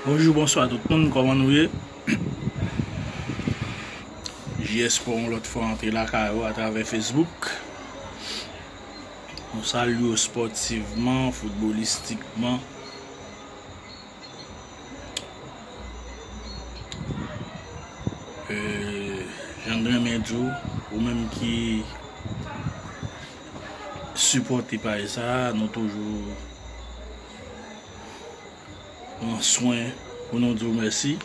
Bonjou bonswa tout moun kòman nou ye JS pou yon lòt fwa antre lakay ou atravè Facebook Nou salye ou spòtivman, foutbolistikman Jan m renmen di w ou menm ki sipòte paj sa a, nou toujou pran swen pou nou di w mèsi.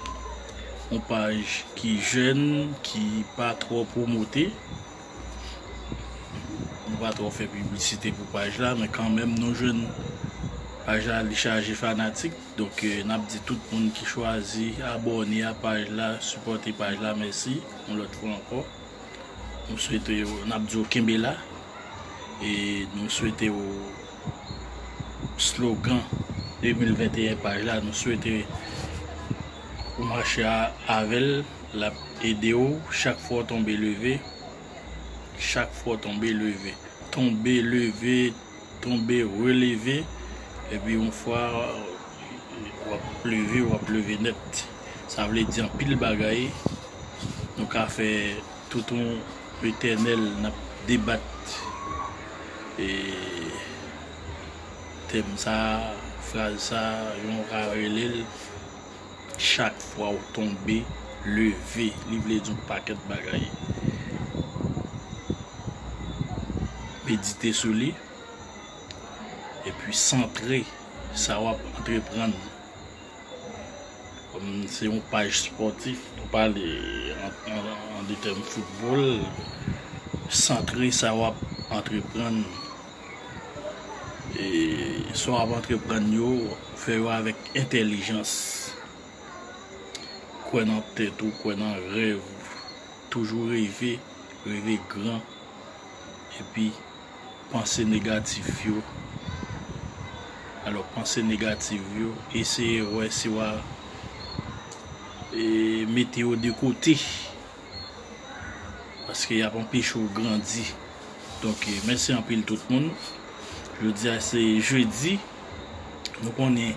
Yon paj ki jèn, ki pa twò pwomote. Nou pa twò fè piblisite pou paj la, men kanmenm nou jwenn paj la li chaje fanatik. Donk n ap di tout moun ki chwazi abòne a paj la, sipòte paj la mèsi yon lòt fwa ankò. Nou swete yo, n ap di yo kenbe la e nou swete yo slogan 2021 paj la nou swete ou mache avè l l ap ede ou chak fwa w tonbe leve chak fwa w tonbe leve tonbe leve tonbe releve epi yon fwa wap leve wap leve nèt sa vle di anpil bagay nou ka fè tout yon etènèl nap debat e tèm sa fraz sa yon ka relel Chak fwa ou tonbe, leve. Li vle di yon pakèt bagay. Medite sou li. E pi santre sa wap antreprann. Kòm se yon paj spòtif, nou pale an de tèm foutbòl. Santre sa wap antreprann. e sa w ap antreprann yo fè yo avèk entèlijans kwè nan tèt ou kwè nan rèv ou toujou reve reve gran epi panse negatif yo alò panse negatif yo eseye wè si w a mete yo de kote. Paske yap anpeche ou grandi Donk mèsi anpil tout moun Jodi a se jeudi Nou konnen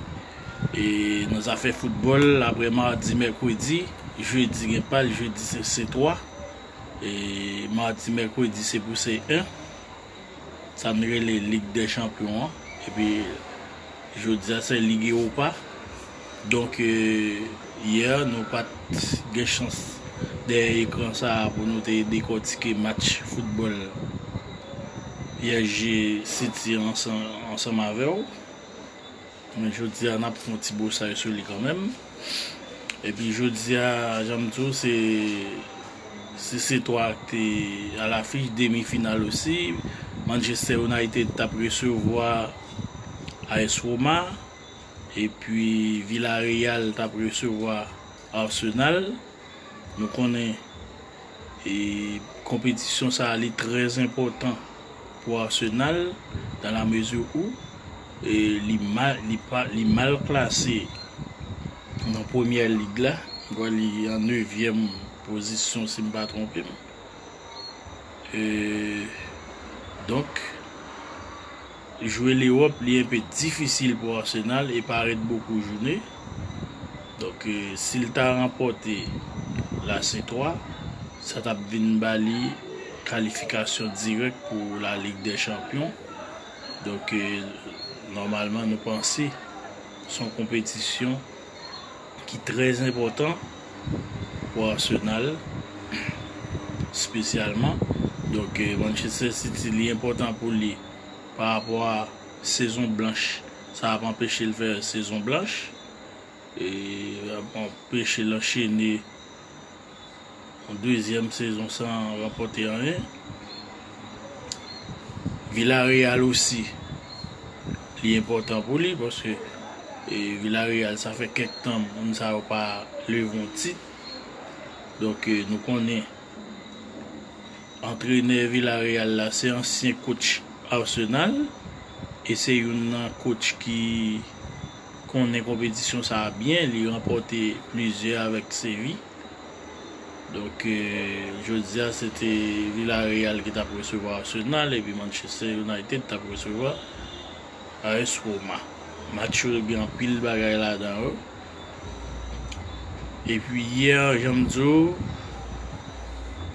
E nan zafè foutbòl Aprè mardi, mèkredi Jeudi gen pal, jeudi se 3 E mardi, mèkredi se pou se 1 sa n rele Lig dè Chanpyon an, epi jodi a se Lig Ewopa. Donk, yè nou pa t gen chans dèyè ekran sa a pou nou te dekòtike match foutbòl PSG City an ansanm avè w. Men jodia nap fon ti bosay sou li kanmenm epi jodia janm di w se si se 3 k te a lafich demi final osi Manchester United tap resevwa AS Roma epi Villarreal tap resevwa Arsenal, nou konnen e konpetisyon sa li trè enpòtan pou Arsenal dan la mezi ou e li mal li pa li mal klase nan premyè lig la, m kwè li an nevyèm pozisyon si m pa twonpe m e donk. Jwe Lewòp li enpe difisil pou Arsenal e pa ret bokou joune. Donk si l ta ranpòte la se 3, sa t ap vin ba li kalifikasyon dirèk pou la Lig dè Chanpyon. Donk nòmalman nou panse s on konpetisyon ki trè enpòtan pou Arsenal spesyalman. Donk Manchester City li enpòtan pou li. pa rapò a sezon blanch sa ap anpeche l fè sezon blanch e ap anpeche l anchene yon dezyèm sezon san ranpòte anyen. Villareal osi li enpòtan pou li paske e Villareal sa fè kèk tan moun sa yo pa leve yon tit donk nou konnen Antrenè Villareal la se ansyen coach Arsenal e se youn nan coach ki konnen konpetisyon sa a byen, li ranpòte plizyè avèk Séville. Donk jodi a se te Villareal ki t ap resevwa Arsenal epi Manchester United t ap resevwa AS Roma. Match yo gen anpil bagay ladan yo. Epi yè jan m di w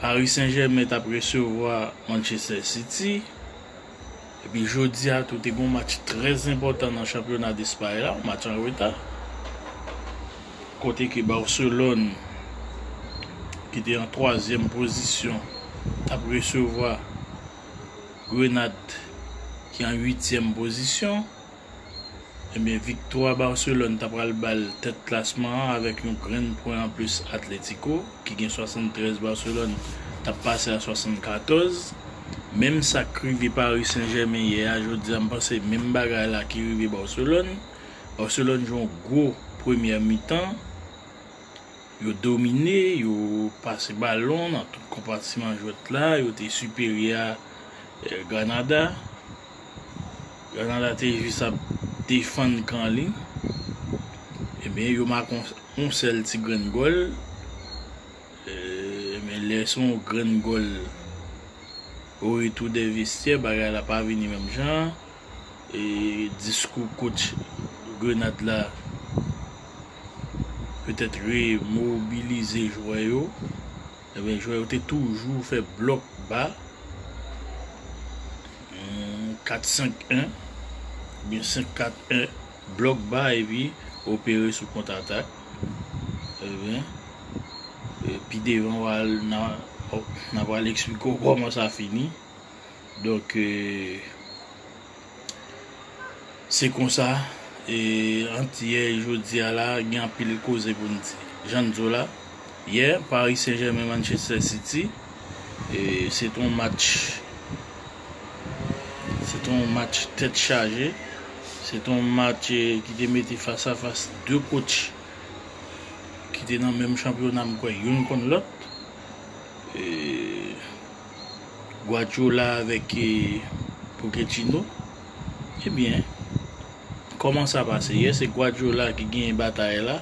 Paris Saint Germain tap resevwa Manchester City. Epi jodi a tou te gen yon match trè enpòtan nan chanpyona Despay la, yon match an reta. Kote ke Barcelone ki te an twazyèm pozisyon tap resevwa. Grenad ki an uityèm pozisyon. Ebyen viktwa Barcelone ta pral ba l tèt klasman an avèk yon grenn pwen anplis Atlético ki gen 73 Barcelone t ap pase a 74. Menm sa k rive Paris Saint Germain yè a jodi a m panse menm bagay la ki rive Barcelone. Barcelone jwe yon gwo premyè mitan. Yo domine, yo pase balon nan tout konpatiman jwèt la, yo te siperyè a Granada. Granada te jis ap defann kan li. Ebyen yo make yon sèl ti grenn gòl. Men lè se yon grenn gòl o retou dè vestyè, bagay la pa vini menm jan. diskou coach Grenade la petèt remobilize jwè yo ebyen jwè yo te toujou fè blòk ba 4 5 1 ebyen 5 4 1 blòk ba epi opere sou kont atak ebyen pi devan nan nan pral eksplike w kòman sa fini. Donk e se konsa e antiyè e jodi a la gen anpil koze pou n di. Jan n di w la, yè Paris Saint Germain Manchester City e se te yon match se te yon match tèt chaje, se te yon match e ki te mete fas a fas 2 kotch ki te nan menm chanpyona m kwè youn konn lòt e. Guardiola avèk Pochettino ebyen kòman sa pase yè se Guardiola ki genyen batay la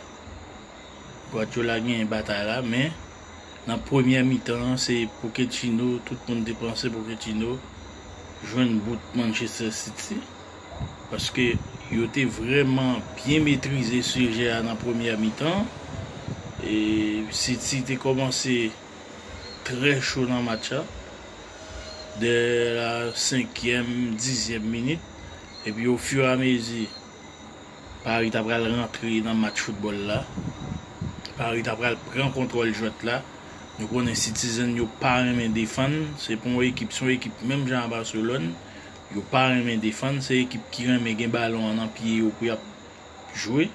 Guardiola genyen batay la men nan premyè mitan se Pochettino tout moun te panse Pochettino jwenn bout Manchester City paske yo te vrèman byen metrize sijè a nan premyè mitan e City te kòmanse trè cho nan match la dè la senkyèm, dizyèm minit epi ofiramezi Pari ta pral rantre nan match foutbòl la, Pari ta pral pran kontwòl jwèt la. Nou konnen Citizen yo pa renmen defann, se pa yon ekip, se yon ekip menm jan a Barcelone, yo pa renmen defann, se ekip ki renmen gen balon an nan pye yo pou y ap jwe.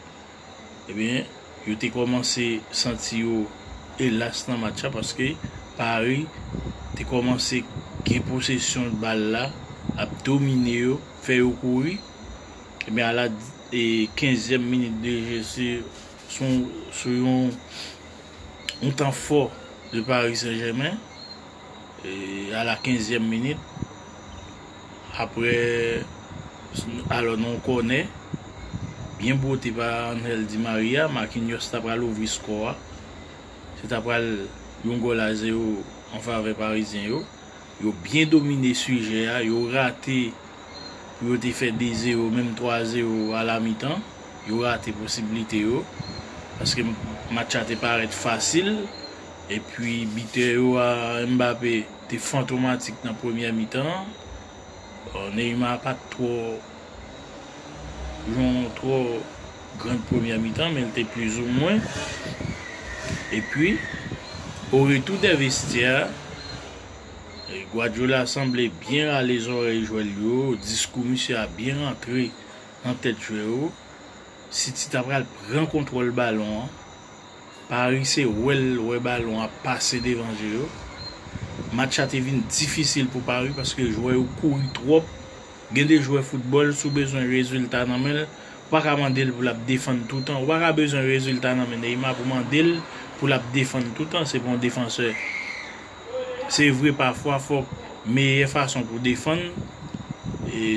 Ebyen, yo te kòmanse santi yo elas nan match la paske Paris te kòmanse gen posesyon bal la, ap domine yo, fè yo kouri. Ebyen a la kenzyèm minit de je se sou yon tan fò de Paris Saint Germain. a la kenzyèm minit aprè alò nan yon kònè byen bwote pa Angel Di Maria, Marquinhos ta pral ouvri skò a, se ta pral yon gòl a zewo an favè parizyen yo, yo byen domine sijè a, yo rate pou yo te fè 2 zewo menm 3 zewo a la mitan, yo rate posiblite yo, paske match la te parèt fasil. Epi bitè yo a Mbappé te fantomatik nan premyè mitan an. Neymar pat twò jwe yon twò grand premyè mitan men li te plizoumwen. Epi o retou dè vestyè a Guardiola sanble byen rale zòrèy jwè l yo, diskou misye a byen rantre nan tèt jwè yo. City ta pral pran kontwòl balon an Paris se wè l wè balon ap pase devan je yo. Match la te vin difisil pou Paris paske jwè yo kouri twòp. Gen de jwè foutbòl si w bezwen rezilta nan men l, ou pa ka mande l pou l ap defann toutan. Ou pa ka bezwen rezilta nan men Neymar pou mande l pou l ap defann toutan, se pa yon defansè. Se vre pafwa fòk meyè fason pou defann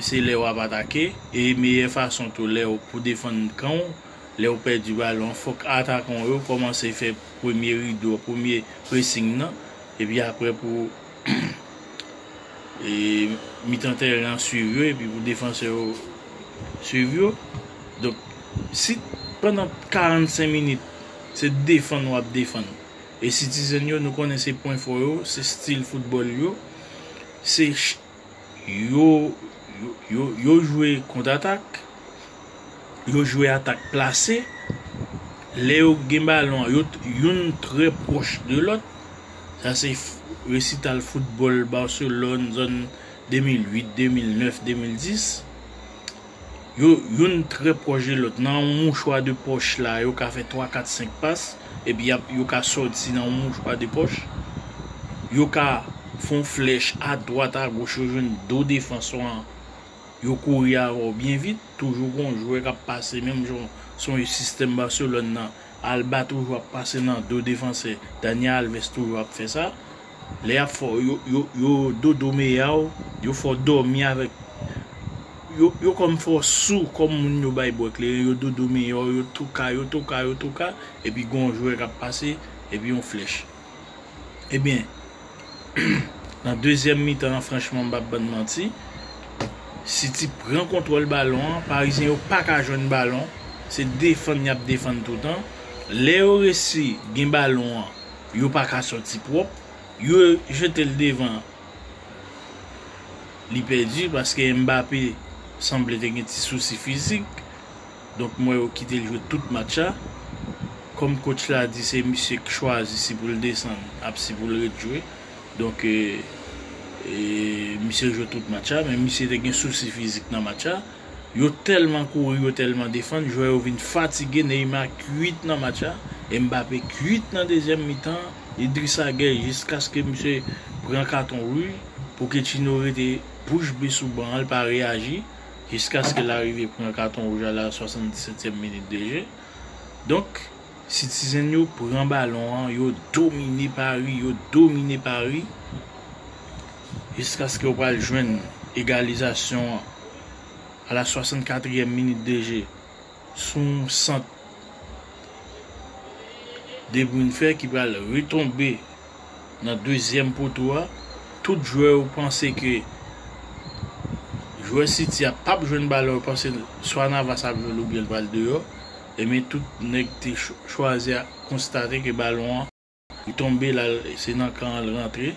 se lè w ap atake e meyè fason tou lè w pou defann kan w. Lèw pèdi balon fòk atakan w yo kòmanse fè premye rido, premye pressing nan epi aprè pou mitan tèren an swiv yo epi pou defansè yo swiv yo. Donk si pandan 45 minit se defann wap defann e Citizen yo nou konnen se pwen fò yo, se stil foutbòl yo, se yo jwe kont atak, yo jwe atak plase, lè yo gen balon an, yo youn trè pwòch de lòt, sa se resital foutbòl Barcelone zòn 2008, 2009, 2010. Yo youn trè pwòch de lòt. Nan yon mouchwa de pòch la, yo ka fè twa, kat, senk pas. Epi y ap, yo ka sòti nan yon mouchwa de pòch. Yo ka fè yon flèch adwat, agoch, yo jwenn do defanswa an. Yo kouri avè w byen vit. Toujou gen yon jwè k ap pase menm jan se yon sistèm Barcelone nan. Alba toujou ap pase nan do defansè. Dani Alves toujou ap fè sa. lè yap fè w yo yo dodo meya w, yo fè w dòmi avèk yo yo kòm fè w sou kòm moun yo bay bwè kleren yo dodo meya w yo touka yo touka yo touka epi gen yon jwè kap pase epi yon flèch ebyen nan dezyèm mitan an franchman m pap bann manti City pran kontwòl balon an parizyen yo paka jwenn balon se defann yap defann toutan lè yo resi gen balon an Yo pa ka sòti pwòp. Yo jete l devan li pèdi paske Mbappé sanble te gen ti sousi fizik donk m wè yo kite l jwe tout match la. Kòm coach la di se misye k chwazi si pou l desann ap si pou l ret jwe donk misye jwe tout match la men misye te gen sousi fizik nan match la. Yo tèlman kouri yo tèlman defann jwè yo vin fatige Neymar kuit nan match la e Mbappé kuit nan dezyèm mitan an Idrissa Gueye jiskaske misye pran katon rouj Pochettino rete bouch be sou ban an l pa reyaji jiskaske l arive pran katon rouj a la 77 tièm minit de je donk Citizen yo pran balon an yo domine Paris yo domine Paris. jiskaske ou pral jwenn egalizasyon an a la 64 yèm minit de je sou yon sant De Bruyne fè ki pral retonbe nan dezyèm poto a, tout jwè yo panse ke jwè City a pap jwenn balon yo panse swa Navas ap jwenn l oubyen l pral deyò, ebyen tout nèg te chwazi a konstate ke balon an. Li tonbe la se nan kan an l rantre.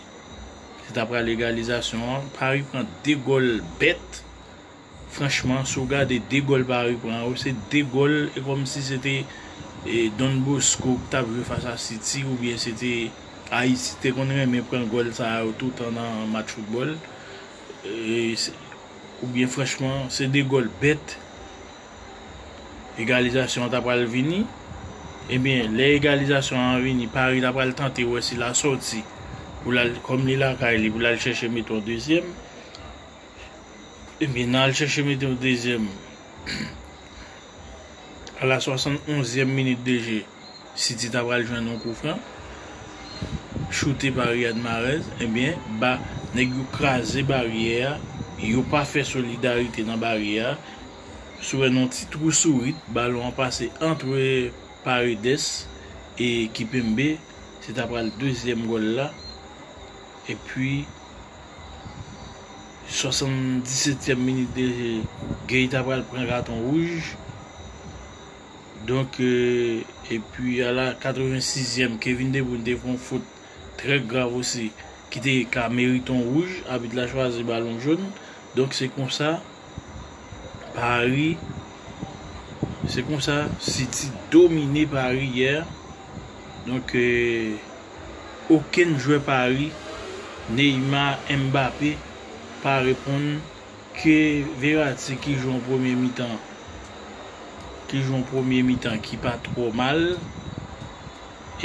Se ta pral egalizasyon an. Paris pran 2 gòl bèt. Franchman si w gade 2 gòl Paris pran yo se 2 gòl e kòm si se te Don Bosco ki t ap jwe fas a City oubyen se te Ayiti te konn renmen pran gòl sa yo toutan nan match foutbòl. Oubyen franchman se 2 gòl bèt. egalizasyon an ta pral vini, ebyen lè egalizasyon an vini Paris ta pral tante wè si la sòti pou lal kòm li lakay li pou lal chèche mete yon dezyèm, ebyen nan al chèche mete yon dezyèm a la 71 zièm minit de je. City ta pral jwenn yon kou fran choute pa Riyad Mahrez ebyen ba nèg yo kraze baryè a yo pa fè solidarite nan baryè a sou wè nan yon ti twou sourit balon an pase antre Paredes e Kipembe se ta pral dezyèm gòl la epi 77 tyèm minit de je Gueye ta pral pran katon wouj. Donk epi a la 86 zièm Kevin De Bruyne te fè yon fot trè grav osi ki te ka merite yon wouj, abit la chwazi balon jaune, donk se konsa Paris se konsa City domine Paris yè, donk okenn jwè Paris Neymar, Mbappé pa reponn. Ke Verratti ki jwe yon premye mitan ki jwe yon premye mitan ki pa twò mal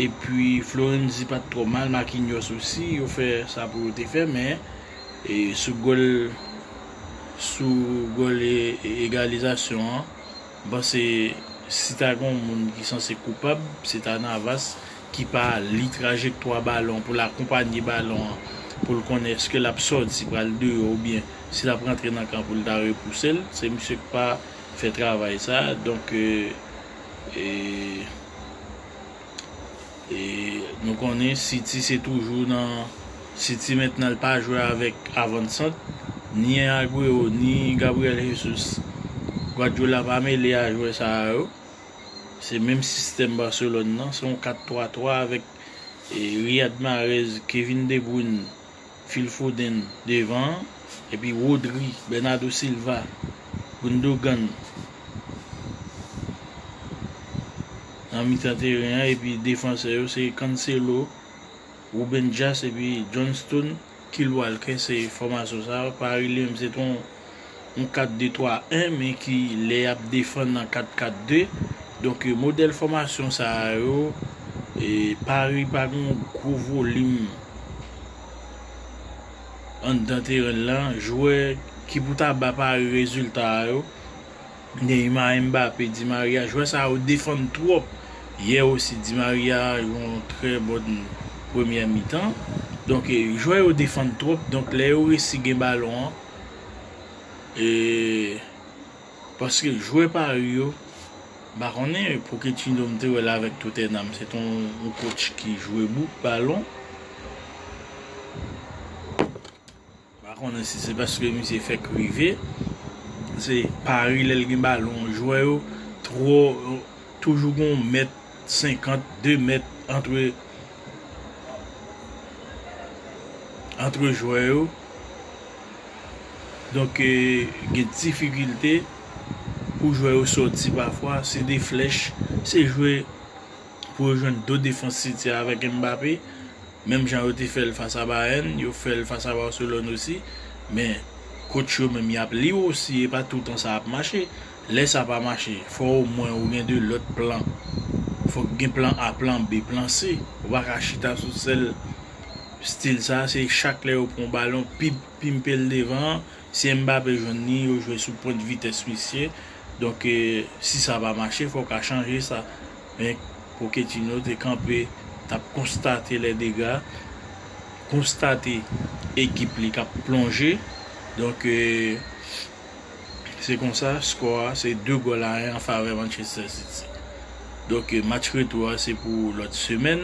epi Florenzi pat twò mal Marquinhos osi yo fè sa pou yo te fè men sou gòl sou gòl egalizasyon an m panse si ta gen yon moun ki sanse koupab se ta Navas. ki pa li trajektwa balon pou l akonpanye balon an pou l konnen eske l ap sòti pral deyò oubyen si l ap rantre nan kan pou l ta repouse l se misye k pa fè travay sa donk e nou konnen City se toujou nan City mentnan l pa jwe avèk avan sant ni Aguero ni Gabriel Jesus Guardiola pa mele a jwè sa yo. Se menm sistèm Barcelone nan, se yon 4 3 3 avèk Riyad Mahrez, Kevin De Bruyne, Phil Foden devan an, epi Rodri, Bernardo Silva, Gundogan nan mitan teren an epi defansè yo se Cancelo, Ruben Dias epi Johnston Kill Walker se fòmasyon sa yo, Paris li menm se t on 4-2-3-1 men ki lè yap defann an 4-4-2, donk modèl fòmasyon sa yo Paris pa gen yon gwo volim anndan teren l lan, jwè ki pou ta ba Paris rezilta yo. Neymar Mbappé di Maria jwè sa yo defann twòp yè osi di Maria jwe yon trè bon premyè mitan donk jwè yo defann twòp donk lè yo resi gen balon an ee paske jwè Paris yo m pa konnen Pochettino m te wè l avèk Tottenham se t on kotch ki jwe bouk balon. Pa konnen si se paske misye fèk rive, se pari lè l gen balon jwè yo twò toujou gen yon mèt senkant, de mèt antre antre jwè yo. Donk gen difikilte pou jwè yo soti pafwa, se de flèch, se jwe pou yo jwenn do defans City a avèk Mbappé. Menm jan yo te fè l fas a Bayern, yo fè l fas a Barcelone osi. Men, coach yo menm y ap li w osi e pa toutan sa ap mache. Lè sa pa mache, fò omwen ou gen 2 lòt plan. Fòk gen plan A, plan B, plan C. Ou pa ka chita sou sèl stil sa a. Se chak lè yo pran yon balon, pip, pimpe l devan an. Si Mbappé jwenn li, yo jwe sou pwent vitès misye. Donk, si sa pa mache, fò w ka chanje sa. Men Pochettino te kanpe t ap konstate lè dega, konstate ekip li k ap plonje. Donk se konsa skò a se 2 gòl a 1 an favè Manchester City. Donk match retou a se pou lòt semèn.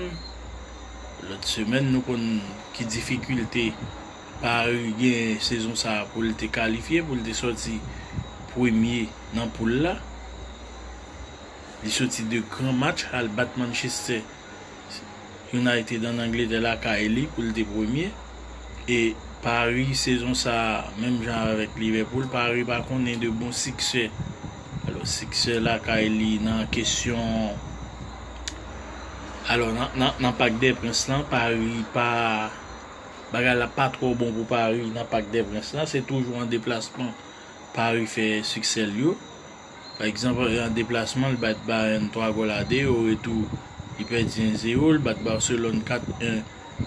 Lòt semèn nou konn ki difikilte Paris gen sezon sa pou l te kalifye, pou l te sòti premye nan poul la. Li soti 2 gran match al bat Manchester United an Angletè lakay li pou l te premye e Paris sezon sa menm jan avèk Liverpool Paris pa konnen de bon siksè alò siksè lakay li nan kesyon alò nan Parc des Princes lan Paris pa bagay la pa twò bon pou Paris nan Parc des Princes lan se toujou an deplasman Paris fè siksè l yo. Pa egzanp, an deplasman li bat Bayern 3 gòl a 2, o retou li pèdi 1 zero, li bat Barcelone 4 1,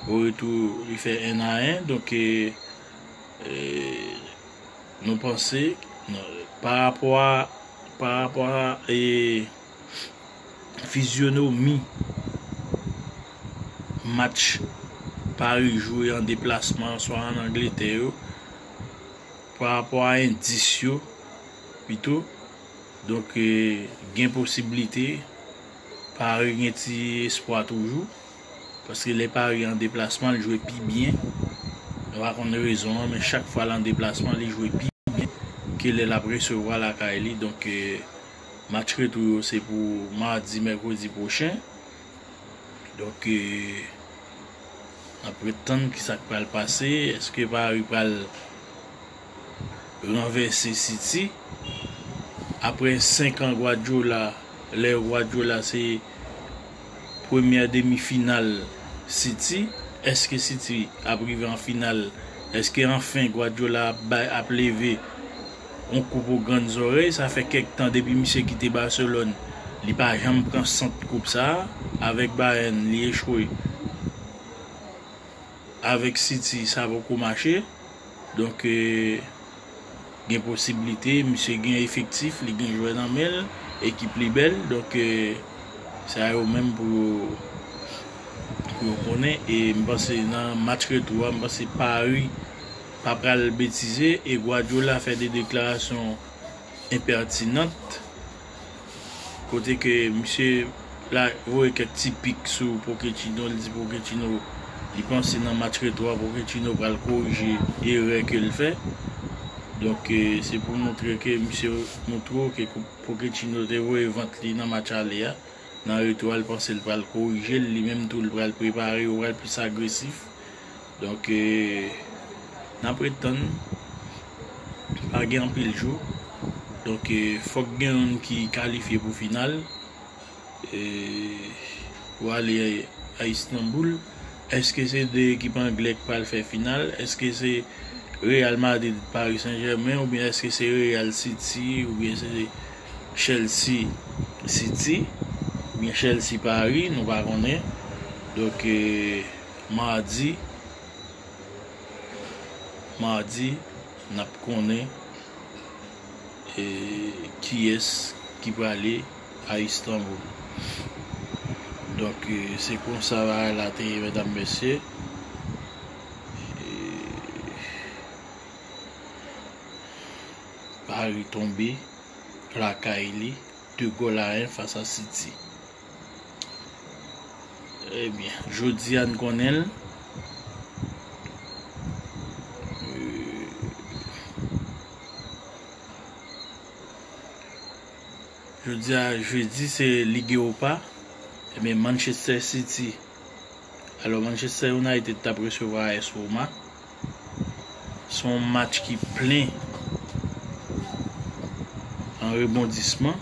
o retou li fè 1 a 1, donk nou panse pa rapò a pa rapò a e fizyonomi match Paris jwe an deplasman swa an Angletè yo pa rapò a endis yo pito donk gen posiblite Paris gen ti espwa toujou paske lè Paris an deplasman li jwe pi byen mwen pa konn rezon an men chak fwa l an deplasman li jwe pi byen ke lè l ap resevwa lakay li donk match retou yo se pou madi mèkredi pwochen donk n ap ret tann kisa k pral pase èske Paris pral. ranvèse City aprè 5 an Guardiola lè Guardiola se premyè demi final City èske City ap rive an final èske anfen Guardiola ap bay ap leve yon koup o grann zòrèy sa fè kèk tan depi misye kite Barcelone li pa janm pran sant koup sa avèk Bayern li echwe avèk City sa poko mache. Donk gen posiblite misye gen efektif, li gen jwè nan men l, ekip li bèl. Donk sa yo menm pou yo konnen. E m panse nan match retou a, m panse Pari pa pral betize e Guardiola fè de deklarasyon enpètinant. Kote ke misye la voye kèk ti pik sou Pochettino, li di Pochettino li panse nan match retou a Pochettino pral korije erè ke l fè. Donk se pou montre ke misye montre w ke Pochettino te voye vant li nan match ale a, nan retou a li panse li pral korije l, li menm tou li pral prepare, yo pral plis agresif. Donk nap ret tann pa gen anpil jou donk fòk gen youn ki kalifye pou final pou ale a Istanboul eske se 2 ekip anglè ki pral fè final eske se Real Madrid Paris Saint Germain oubyen eske se Real City oubyen se Chelsea City oubyen Chelsea Paris nou pa konnen donk. Mardi Mardi nap konnen kiyès ki prale a Istanbul donk se konsa bagay la te ye medam mesye Paris tonbe lakay li 2 gòl a 1 fas a City. Ebyen jodi a n konnen l. Jodi a jedi se lig ewopa ebyen Manchester City alò Manchester United tap resevwa AS Roma son match ki plen an rebondisman.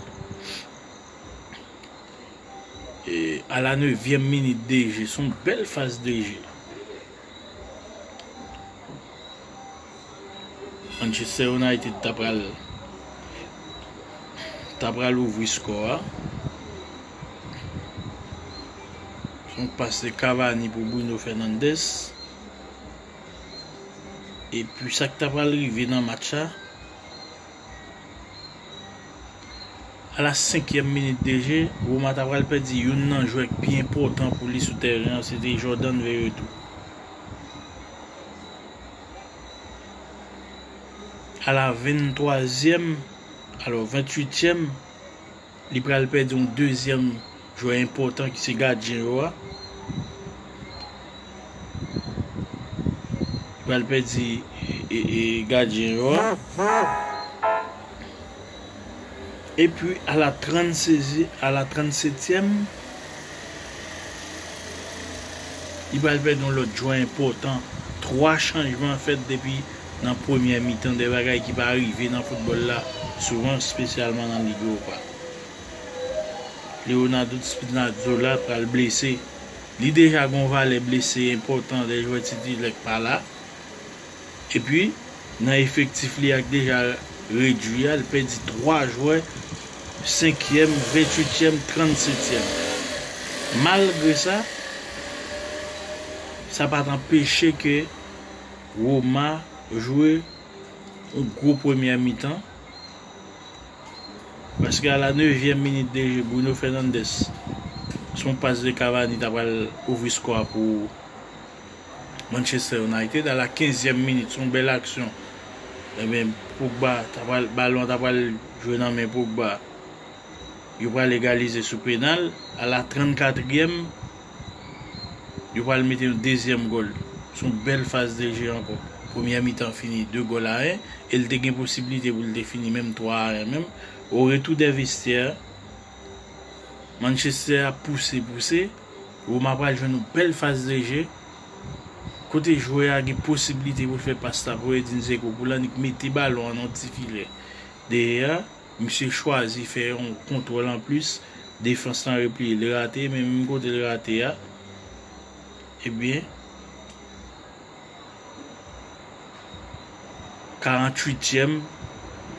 E a la nevyèm minit de je son bèl faz de je. Manchester United ta pral ta pral ouvri skò a. Son pas de Cavani pou Bruno Fernandes. E pi sa k ta pral rive nan match a. A la senkyèm minit de je, Roma ta pral pèdi youn nan jwè k pi enpòtan pou li sou tèren an, se te Jordan Veretout. A la venntwazyèm, alò ventuityèm. Li pral pèdi yon dezyèm jwè enpòtan ki se gadyen yo a. Li pral pèdi gadyen yo a. E pi a la 36 e a la 37 tièm. Li pral pèdi yon lòt jwè enpòtan. 3 chanjman fèt depi nan premyè mitan, 2 bagay ki pa rive nan foutbòl la souvan, espesyalman nan Lig Ewopa. Leonardo Spinazzola pral blese. Li deja gen yon valè blese enpòtan lè jwè titilè pa la. Epi, nan efektif li a ki deja redui a, li pèdi 3 jwè, senkyèm, ventuityèm, transetyèm. Malgre sa, sa pa t anpeche ke Roma jwe yon gwo premyè mitan, paske a la nevyèm minit de je, Bruno Fernandes, sou yon pas de Cavani ta pral ouvri skò a pou Manchester United a la kenzyèm minit son bèl aksyon ebyen Pogba ta pral balon an ta pral jwe nan men Pogba yo pral egalize sou penal a la trant katriyèm yo pral mete yon dezyèm gòl son bèl faz de je ankò premyè mitan fini 2 gòl a 1 e l te gen posibilite pou l te fini menm 3 a 1 menm o retou dè vestyè Manchester a pouse pouse. Roma pral jwenn yon bèl faz de je, kote jwè a gen posibilite pou l fè pas la pou Edin Dzeko pou l annik mete balon an nan ti filè dèyè a. Misye chwazi fè yon kontwòl anplis, defans lan repliye, li rate men menm kote l rate a, ebyen. 48 tièm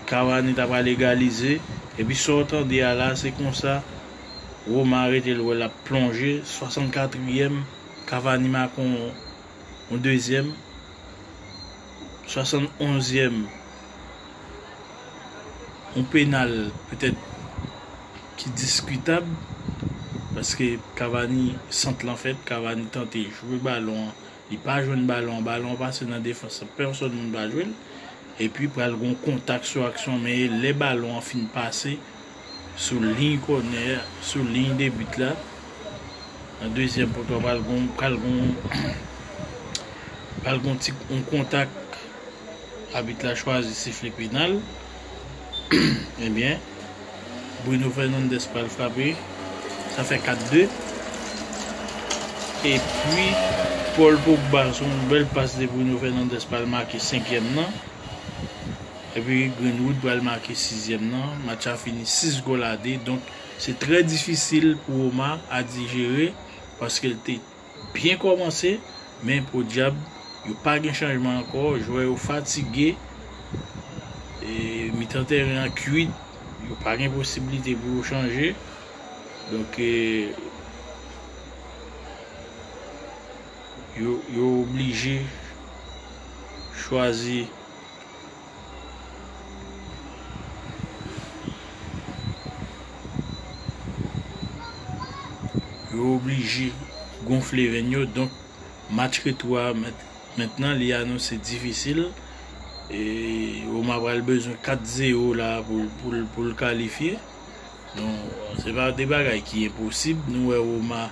Cavani ta pral egalize epi sa w tande a la se konsa Roma rete l wè l ap plonje 64 ièm Cavani make yon dezyèm 71 ièm yon penal petèt ki diskitab paske Cavani sant lan fèt Cavani tante jwe balon an. Li pa jwenn balon an, balon an pase nan defans lan, pèsòn moun pa jwe l. Epi pral gen yon kontak sou aksyon men e lè balon an fin pase sou liy kònè, sou liy de bit la, nan dezyèm poto a pral gen yon, pral gen yon, pral gen yon ti, yon kontak, abit la chwazi sifle penal. Ebyen Bruno Fernandes pral frape Sa fè 4 2 Epi Paul Pogba sou yon bèl pas de Bruno Fernandes pral make 5 yèm nan Epi Greenwood pral make 6 yèm nan Match la fini 6 gòl a 2 Donk se trè difisil pou Roma a dijere Paske l te Byen kòmanse men podyab yo pa gen chanjman ankò, jwè yo fatige, mitan tèren an kuit, yo pa gen posibilite pou yo chanje, donk yo oblije chwazi. Yo oblije gonfle venn yo donk match retou a mentnan li anonse difisil e Roma pral bezwen 4 zero la poul kalifye donk se pa de bagay ki enposib nou wè Roma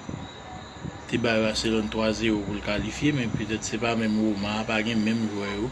te bay Barcelone 3 zero poul kalifye men petèt se pa menm Roma a pa gen menm jwè yo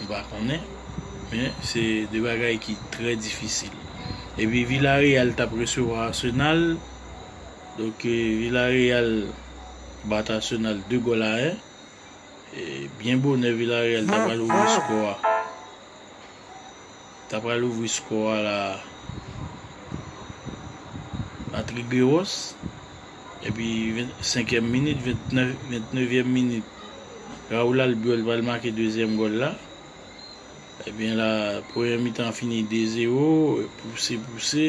m pa konnen men se 2 bagay ki trè difisil epi Villareal tap resevwa Arsenal donk Villareal bat Arsenal 2 gòl a 1 e byen bonè Villareal ta pral ouvri skò a. Ta pral ouvri score a la a Trigueros epi 25 èm minit 29 èm minit Raul Albiol pral make dezyèm gòl la ebyen la premyè mitan an fini 2 zero pouse pouse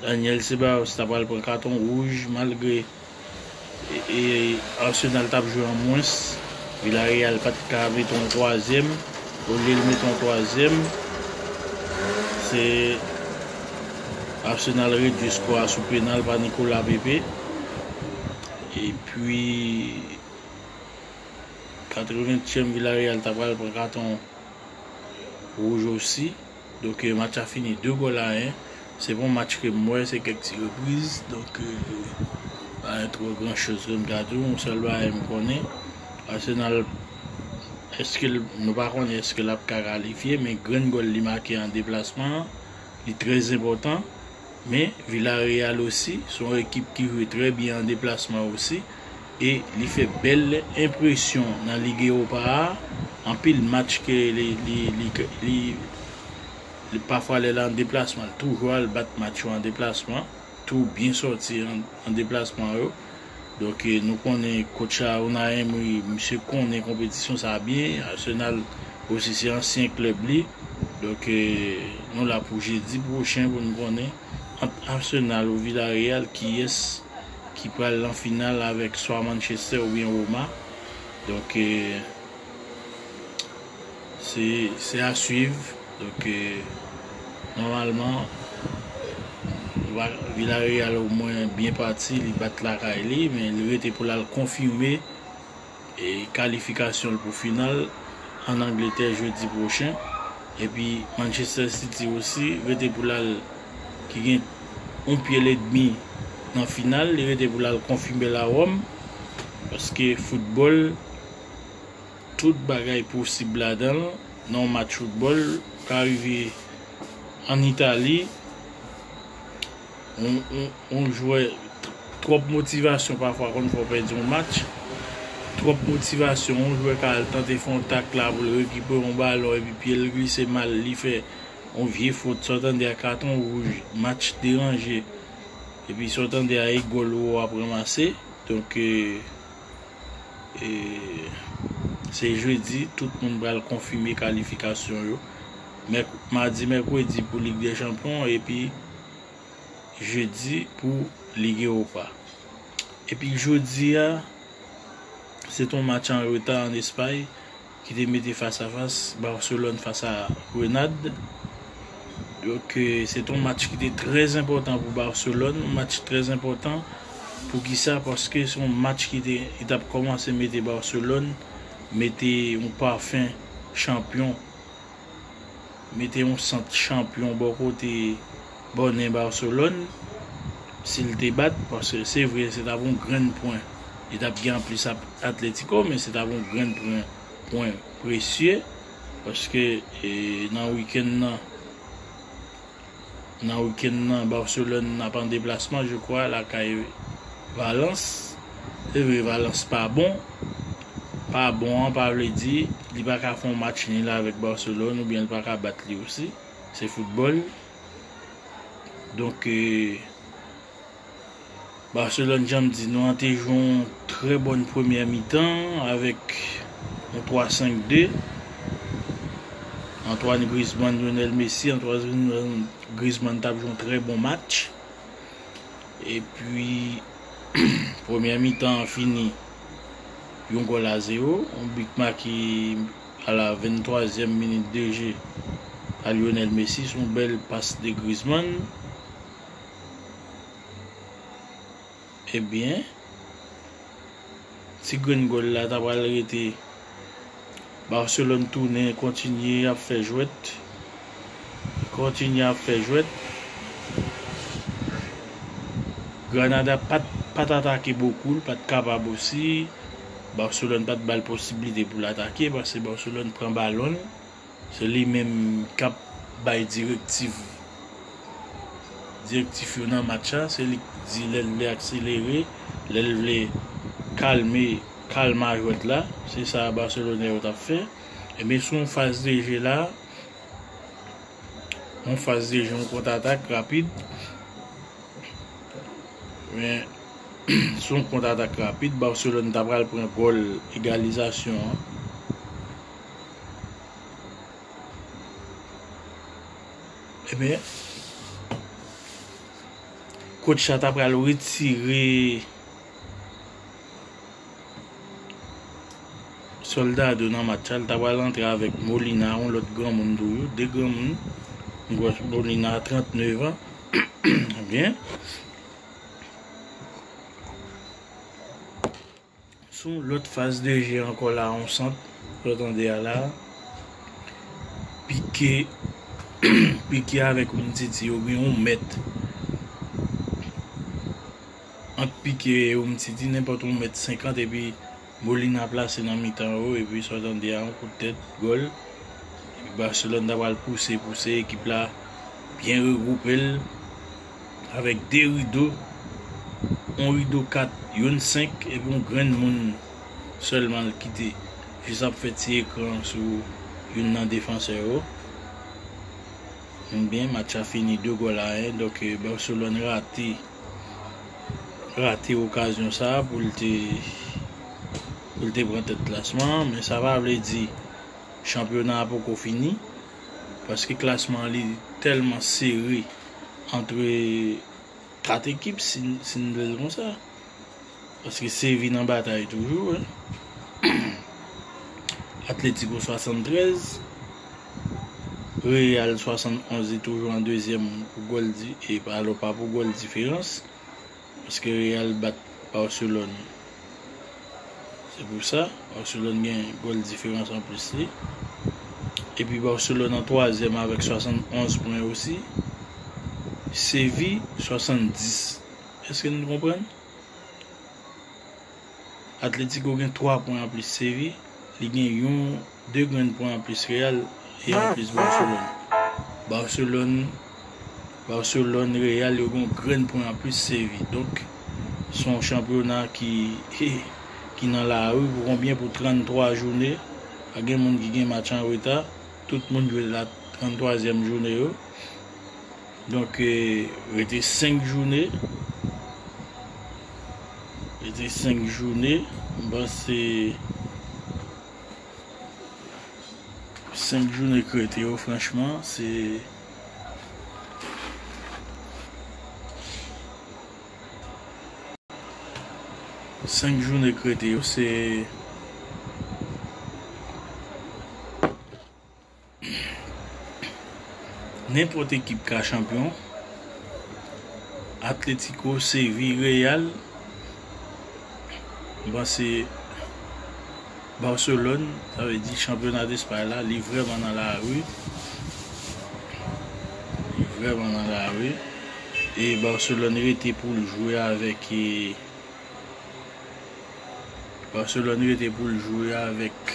Daniel Ceballos ta pral pran katon wouj malgre Arsenal tap jwe an mwens. Villarreal pat ka mete yon twazyèm. Olye l mete yon twazyèm, se Arsenal redui sko a sou penal pa Nicolas Pepe. Epi... 80 tièm Villarreal ta pral pran katon wouj osi. Donk match la fini 2 gòl a 1. Se pa yon match ke m wè, se kèk ti repriz. Donk pa gen twò gran choz ke m ka di w. Yon sèl bagay m konnen, Arsenal eske l, nou pa konnen eske l ap ka kalifye. Men grenn gòl li make an deplasman an, li trèzenpòtan. Men Villarreal osi se yon ekip ki jwe trè byen an deplasman osi e li fè bèl enpresyon nan Ligue Europa a, anpil match ke li pafwa lè l an deplasman li toujou al bat match yo an deplasman tou byen sòti an deplasman yo. Donk nou konnen coach sa Unai Emery misye konnen konpetisyon sa byen, Arsenal osi se ansyen klèb li, donk nou la pou jedi pwochen pou nou konnen ant Arsenal ou Villarreal kiyès ki pral nan final avèk swa Manchester oubyen Roma donk. Se a swiv donk nòmalman Villareal omwen byen pati li bat lakay li men li rete pou l al konfime kalifikasyon l pou final an Angletè jodi pwochen epi Manchester City osi rete pou l al ki gen yon pye l edmi nan final li rete pou l al konfime l a Rome paske foutbòl. Tout bagay posib ladan l nan yon match foutbòl. Ka rive ann Itali, yon jwè, twòp motivasyon pafwa konn fè w pèdi yon match. Twòp motivasyon, yon jwè ka al tante fè yon tak la pou l rekipere yon balon epi pye l glise mal, li fè yon vye fot. Sa w tande a katon wouj, match deranje. Epi sa w tande a e gòl ou wè w ap ranmase. Donk. e se jedi tout moun pral konfime kalifikasyon yo madi mèkredi pou lig dè chanpyon epi jedi pou lig ewopa epi jodi a se ton match an reta an espay ki te mete fas a fas Barcelone fas a Grenad donk se te yon match ki te trè enpòtan pou Barcelone match trè enpòtan poukisa paske se yon match ki te ki tap kòmanse mete Barcelone mete yon pafen chanpyon. mete yon sant chanpyon bò kote bòne Barcelone sil te bat paske se vre se tap yon grenn pwen li tap gen anplis ap Atletico men se tap yon grenn pwen pwen presye paske nan wikenn nan. Nan weekend nan Barcelone ap an deplasman je kwa lakay Valence. Se vre Valence pa bon, pa bon an pa vle di li pa ka fè yon match nil avèk Barcelone oubyen li pa ka bat li osi. Se foutbòl. Donk. Barcelone janm di nou an te jwe yon trè bòn premyè mitan avèk yon 3 5 2 Antoine Griezmann Lionel Messi Antoine Griezmann tap jwe yon trè bon match epi premyè mitan an fini yon gòl a 0 yon bit make a la 23 zièm minit de je pa Lionel Messi son bèl pas de Griezmann Ebyen Ti grenn gòl la ta pral rete Barcelone tounen kontinye ap fè jwèt Kontinye ap fè jwèt Granada pat atake bokou l pat kapab osi Barcelone pat bal posiblite pou l atake paske Barcelone pran balon l. Se li menm kap bay direktiv direktif yo nan match la, se li k di lèl vle akselere, lèl vle kalme kalma jwèt la, se sa Barcelone yo tap fè, ebyen sou yon faz de je la, yon faz de je yon kont atak rapid, men sou yon kont atak rapid Barcelone ta pral pran gòl egalizasyon an. Ebyen Coach la ta pral retire Soldado nan match la, li ta pral antre avèk Molina yon lòt granmoun toujou, 2 granmoun. M kwè Molina 39 an ebyen. Sou yon lòt faz de je ankò la yon sant ou tande a la pike pike avèk umtiti oubyen yon mèt ant pike e umtiti nenpòt yon mèt senkant epi Molina plase nan mitan yo epi sa w tande a yon kout tèt gòl epi Barcelone ta pral pouse pouse ekip la byen regwoupe l. avèk de rido, yon rido kat, youn senk epi yon grenn moun sèlman l kite jis ap fè ti ekran sou youn nan defansè yo. Enben, match la fini 2 gòl a 1. Donk, Barcelone rate rate okazyon sa a pou l te pou l te pran tèt klasman an. Men sa pa vle di chanpyona a poko fini. paske klasman li tèlman sere antre 4 ekip si n vle l konsa paske Sevy nan batay toujou Atlético 73 Real 71 li toujou an dezyèm pou gòl di e pa pou gòl diferans. Paske Real bat Barcelone se pou sa Barcelone gen gòl diferans an plis li epi Barcelone an twazyèm avèk 71 pwen osi Séville 70 èske nou konprann? Atletico gen 3 pwen anplis Sevi, li gen yon 2 grenn pwen anplis Real e anplis Barcelone. Barcelone Barcelone Real yo gen yon grenn pwen anplis Sevi. Donk se yon chanpyona ki ki nan lari pou konbyen pou 33 joune, pa gen moun ki gen match an reta, tout moun jwe la 33 zyèm joune yo. Donk rete 5 joune, rete 5 joune, m panse 5 joune k rete yo franchman se Senk joune k rete yo se Nenpòt ekip ka chanpyon, Atletico, Séville, Real, m panse Barcelone, sa vle di chanpyona despay la li vrèman nan lari, li vrèman nan lari e Barcelone rete pou l jwe avèk e Barcelone rete pou l jwe avèk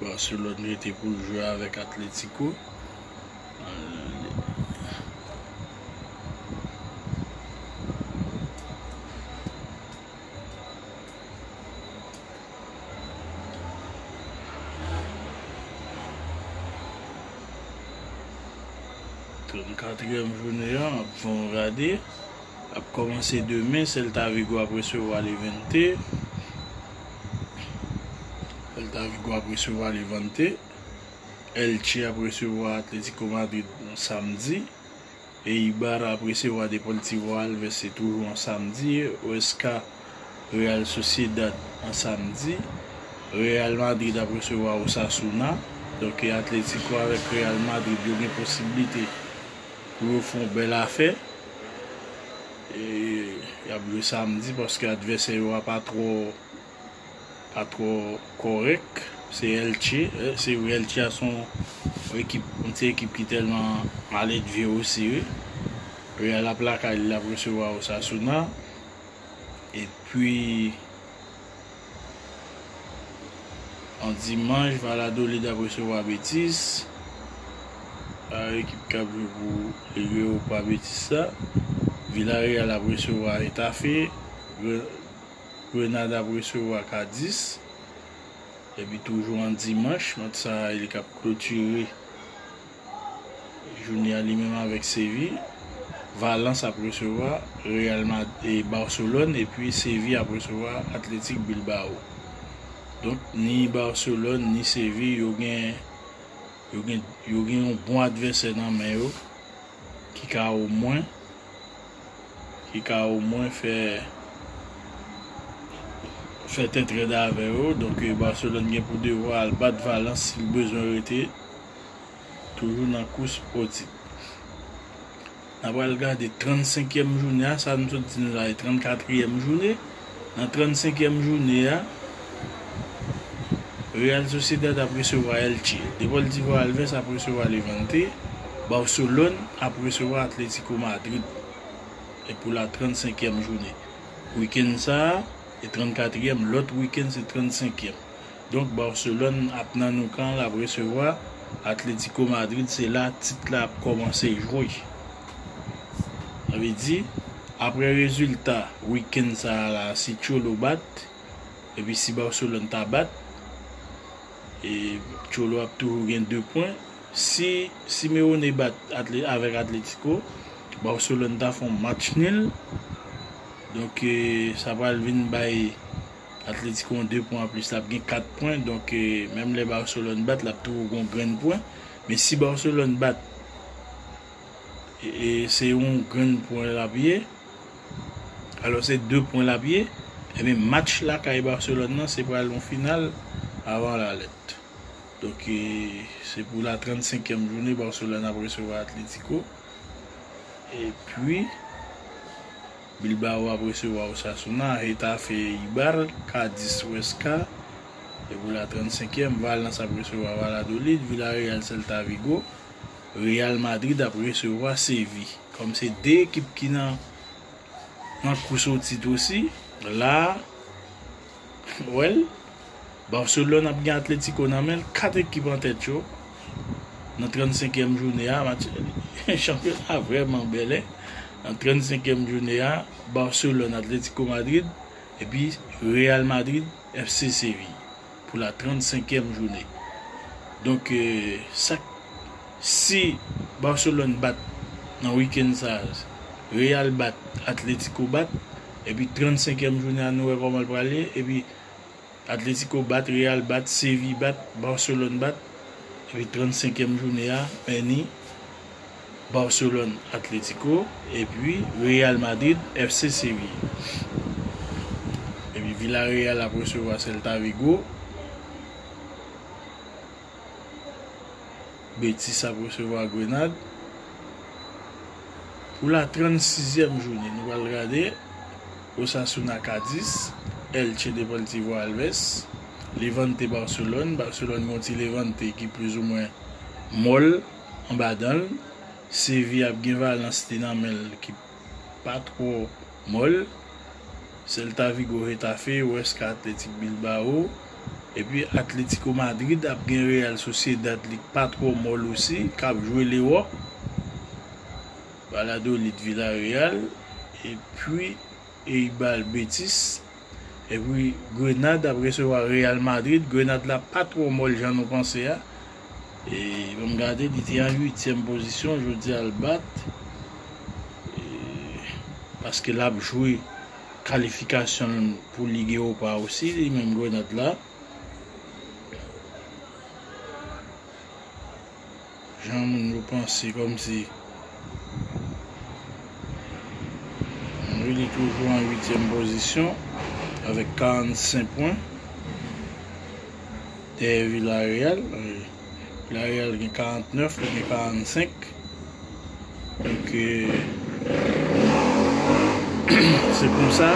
Barcelone rete pou l jwe avèk Atletico. Katriyèm jounen an ap fè yon rade, ap kòmanse demen, Celta Vigo ap resevwa Levante. Celta Vigo ap resevwa Levante. Elche ap resevwa Atletico Madrid samdi. Eibar ap resevwa Deportivo Alves se toujou an samdi, Huesca Real Sociedad an samdi, Real Madrid ap resevwa Osasuna, donk e Atletico avèk Real Madrid yo gen posiblite pou yo fè yon bèl afè, e yap jwe samdi paske advèsè yo a pa twò. pa twò kòrèk, se Elche, se vre Elche a son ekip, yon ti ekip ki tèlman maledve osi wi. Real ap lakay li, lap resevwa Osasuna, epi yon dimanch Valladolid ap resevwa Betis, a ekip kap jwe pou Ligue Europa Betis la, Villarreal ap resevwa Hetafe. Grenad ap resevwa Kadis epi toujou an dimanch match sa a li kap klotire jounen an li menm avèk Sevi. Valans ap resevwa Real Madrid, Barcelone epi Sevi ap resevwa Athletic Bilbao. Donk ni Barcelone ni Sevi yo gen yo gen yo gen yon bon advèsè nan men yo ki ka omwen ki ka omwen fè fè tèt rèd avè yo, donk Barcelone gen pou devwa al bat Valence si l bezwen rete toujou nan kous o tit. N a pral gade 35 èm jounen a, sa nou sot di nou la e 34 yèm jounen. Nan 35 èm joune a, Real Sociedad ap resevwa Elche, Deportivo Alves ap resevwa Levante, Barcelone ap resevwa Atletico Madrid. E pou la 35 èm joune. Weekend sa a, e 34 èm, lòt weekend se 35 èm. Donk Barcelone ap nan Nou Camp lap resevwa Atletico Madrid se la tit la ap kòmanse jwe. Sa vle di aprè rezilta weekend sa la si Cholo bat epi si Barcelone ta bat e Cholo ap toujou gen 2 pwen si Simeone bat avèk Atletico Barcelone ta fon match nul donk sa pral vin bay Atletico an 2 pwen anplis lap gen 4 pwen donk menm lè Barcelone bat lap toujou gon grenn pwen men si Barcelone bat e se yon grenn pwen lap ye alò se 2 pwen lap ye ebyen match lakay Barcelone nan se pral yon final avan la lèt donk se pou la 35 kièm jounen Barcelone ap resevwa Atletico epi. Bilbao ap resevwa Osasuna, Getafe Eibar, Cadiz Huesca e pou la 35 èm Valence ap resevwa Valladolid, Villarreal Celta Vigo, Real Madrid ap resevwa Seville. Kòm se 2 ekip ki nan nan kous o tit osi, la a. Well, Barcelone ap gen Atletico nan menl, 4 ekip an tèt yo nan 35 èm joune a, match chanpyona vrèman bèl hein, nan 35 èm joune a, Barcelone Atletico Madrid epi Real Madrid FC Séville pou la 35 èm joune donk sak Si Barcelone bat nan weekend sa Real bat Atletico bat epi 35 èm jounen an nou wè kòman l pral ye epi Atletico bat Real bat Seville bat Barcelone bat epi 35 èm jounen a Menni Barcelone Atletico epi Real Madrid FC Seville epi Villarreal ap resevwa Celta Vigo. Betis ap resevwa Grenad pou la 36 zièm jounen. Nou pral gade Osasuna Cadiz, Elche Deportivo Alves, Levante Barcelone, Barcelone gen yon ti Levante ki plis ou mwen mòl anba danl, Sevilla ap gen Valence li nan menl ki. pa two mòl, Celta Vigo Getafe, Huesca Athletic Bilbao, epi Atlético Madrid ap gen Real Sociedad li k pa twò mòl osi kap jwe lewòp, Valladolid Villarreal epi. Eyy bal betis. Epi grenad ap resevwa real madrid grenad la pa trò mòl jan nou panse a e banm gade li te an 8 tièm pozisyon jodi al bat e paske lap jwe kalifikasyonl pou lig ewopa osi li menm grenad la. Jan moun yo panse komsi Monrily toujou an uityèm pozisyon avèk 45 pwen dèyè Villareal. Villareal gen 49, li gen 45. Donk se konsa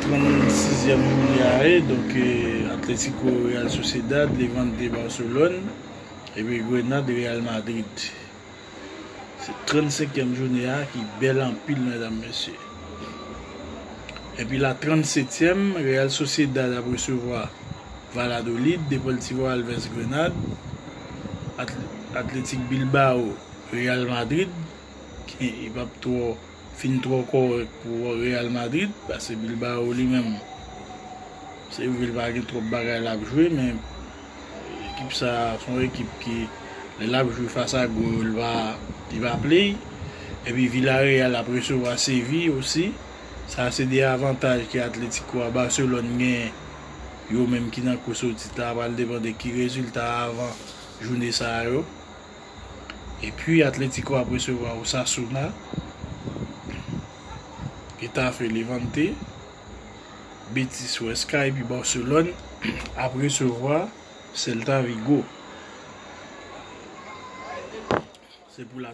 36 yèm jounè a ye. Donk Atletico, Real Sociedad, Levante, Barcelone. Epi Grenade Real Madrid. Se 35 kièm joune a ki bèl anpil medam mesye. Epi la 37 tièm Real Sociedad ap resevwa Valladolid, Deportivo Alves Grenade, Athletic Bilbao Real Madrid, ki pap twò fin twò kòrèk pou Real Madrid, pase Bilbao li menm se vre li pa gen twòp bagay lap jwe men. Ekip sa se yon ekip ki lè lap jwe fas a gwo yo li pa play epi Villareal ap resevwa Séville osi sa se 2 avantaj ke Atlético a Barcelone gen yo menm ki nan kous o tit la pral depan de ki rezilta avan joune sa yo epi Atlético ap resevwa Osasuna Getafe Levante. Betis Huesca epi Barcelone ap resevwa Celta Vigo. Se pou la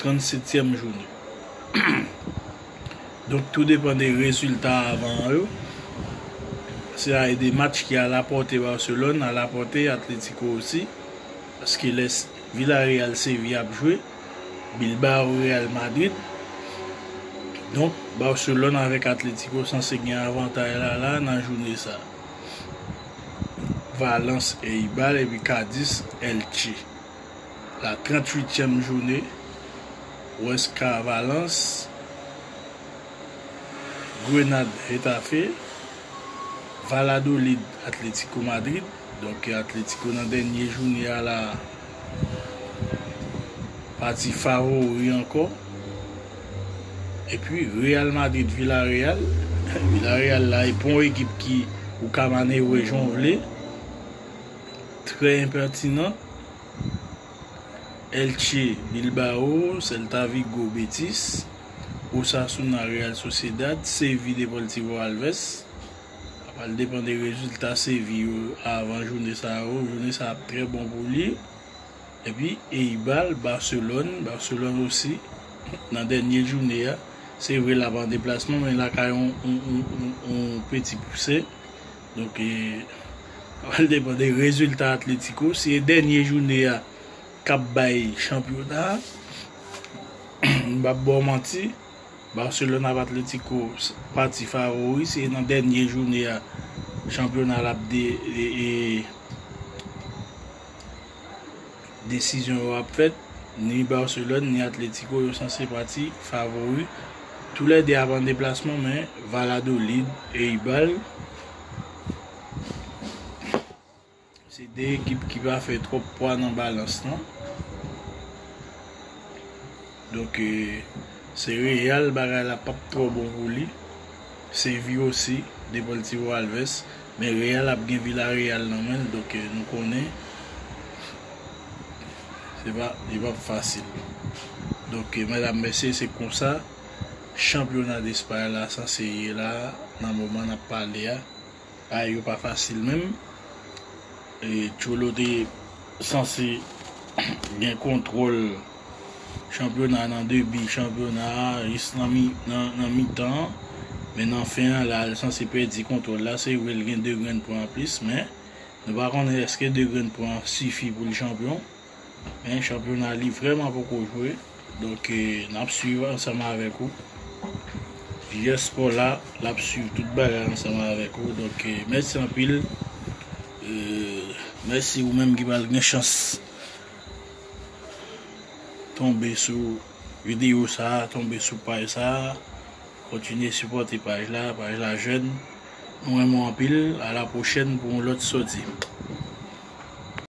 37èm jounen. Donk tou depan de rezilta avan an yo. Se a e de match ki a la pòte Barcelone, a la pòte Atletico osi. Paske lè Villarreal Sevilla ap jwe. Bilbao Real Madrid donk Barcelone avèk Atletico sanse gen avantay la la nan joune sa Valence Eibar epi Cadiz Elche la 38 tièm joune Huesca Valence Grenade Getafe Valladolid Atletico Madrid donk Atletico nan dènye joune a la. Pati favori ankò. Epi Real Madrid Villareal. Villareal la e pon ekip ki ou ka manevre jan w vle. Trè enpètinan. Elche Bilbao, Celta Vigo Betis, Osasuna Real Sociedad, Seville Deportivo Alves. Sa pral depan de rezilta Seville yo avan joune sa yo. Joune sa ap trè bon pou li. Epi Eibal, Barcelone. Barcelone osi nan dènye joune a. Se vre l ap an deplasman men lakay yon peti pouse. Donk e pral depan de rezilta Atlético. Si e dènye joune a k ap bay chanpyona a, m p ap ba w manti. Barcelone ap Atletico pati favori se nan dènye joune a chanpyona la ap desizyon yo ap fèt ni Barcelone ni Atletico yo sanse pati favori tou lè 2 ap an deplasman men Valladolid Eibar. Se 2 ekip ki pa fè twòp pwa nan balans lan. Donk se Real bagay la p ap twò bon pou li. Seville osi, Deportivo Alves. Men Real ap gen Villarreal nan men l, donk nou konnen se pa li p ap fasil. Donk medam mesye se konsa chanpyona Despay la sanse ye la nan moman n ap pale a. Bagay yo pa fasil menm. Cholo te sanse gen kontwòl chanpyona nan debi chanpyona a jis nan mitan an. Men nan fen an la li sanse pèdi kontwòl la. Se vre li gen 2 grenn pwen anplis men nou pa konnen èske 2 grenn pwen an sifi pou li chanpyon. Men chanpyona li vreman poko jwe donk nap swiv ansanm avek ou Jiyès spò la lap swiv tout bagay ansanm avek ou donk mèsi anpil mèsi ou menm ki pral gen chans tonbe sou video sa tonbe sou paj sa kontinye sipòte paj la paj la jèn mwen renmen w anpil a la pwochèn pou yon lòt sòti.